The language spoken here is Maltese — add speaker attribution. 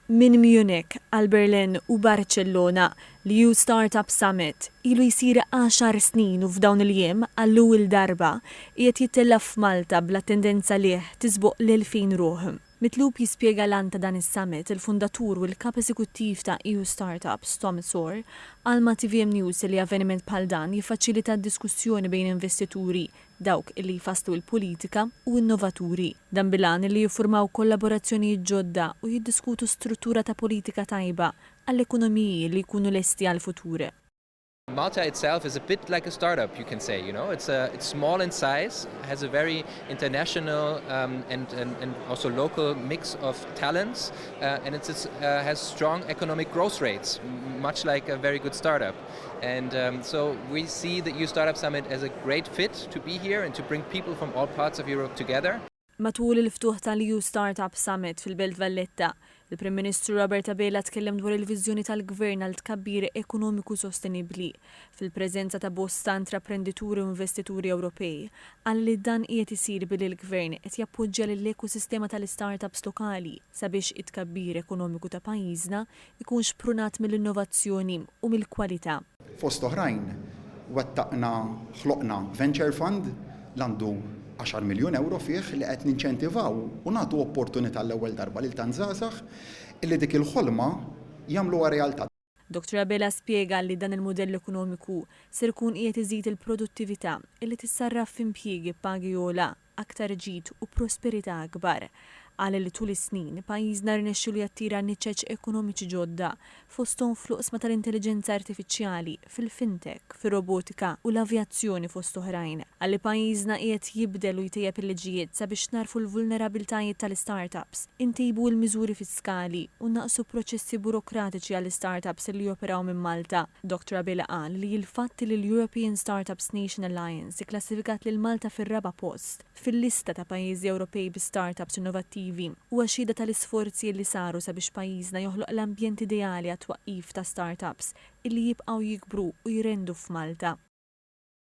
Speaker 1: Minn Munich għal Berlin u Barċellona, l-EU Startup Summit ilu jsir għaxar snin u f'dawn il-jiem, għall-ewwel darba, qiegħed jittella' f'Malta bl-attendenza lieh tisboq l-elfin ruħ. Mitlub jispjega l-għan ta' dan is-summit, il-fundatur u l-Kap Eżekuttiv ta' EU Startups, Tom Sor, qal ma' tvm News li avveniment bħal dan jiffaċilita d-diskussjoni bejn investituri, dawk li jfasslu l-politika u innovaturi, dan bil-għan li jiffurmaw kollaborazzjonijiet ġodda u jiddiskutu struttura ta' politika tajba għall-ekonomiji li jkunu lesti għall-futur. Malta
Speaker 2: itself is a bit like a startup you can say, you know, it's it's small in size, has a very international and and also local mix of talents and it's it's has strong economic growth rates, much like a very good startup. And um, so we see the EU Startup Summit as a great fit to be here and to bring people from all parts of Europe together. Matul il-ftuħ
Speaker 1: tal-EU Startup Summit fil-Belt Valletta, il-Prim Ministru Robert Abela tkellem dwar il-viżjoni tal-Gvern għal tkabbir ekonomiku sostenibbli fil-preżenza ta' bosta intraprendituri u investituri Ewropej. Qal li dan qiegħed isir billi l-Gvern qed jappoġġja lill-ekosistema tal-istartups lokali sabiex it-tkabbir ekonomiku ta' pajjiżna ikun xprunat mill-innovazzjoni u mill-kwalità. Fost oħrajn,
Speaker 3: wettaqna ħloqna Venture Fund li għandu għaxar miljun ewro fih li qed ninċentivaw u nagħtu opportunità għall-ewwel darba lil tant żgħażagħ illi dik il-ħolma jagħmluha realtà. Dottor Abela
Speaker 1: spjega li dan il-mudell ekonomiku ser ikun qiegħed iżid il-produttività illi tissarraf f'impjiegi b'pagi ogħla, aktar ġid u prosperità akbar. Qal li tul is-snin, pajjiżna rnexxielu jattira niċeċ ekonomiċi ġodda, fosthom fl-oqsma tal-intelliġenza artifiċjali, fil-fintech, fir-robotika u l-avjazzjoni fost oħrajn. Qal li pajjiżna qiegħed jibdel u jtejjeb il-liġijiet sabiex nagħrfu l-vulnerabbiltajiet tal-istartups. intejbu l-miżuri fiskali u nnaqqsu proċessi burokratiċi għall-istartups li joperaw minn Malta. Doctor Abela qal li l-fatt li l-European Startups Nation Alliance ikklassifikat lil Malta fir-raba' post fil-lista ta' pajjiżi Ewropej bi startups innovattivi huwa xhieda tal-isforzi li saru sabiex pajjiżna joħloq l-ambjent ideali għat-twaqqif ta' startups li jibqgħu jikbru u jrendu f'Malta.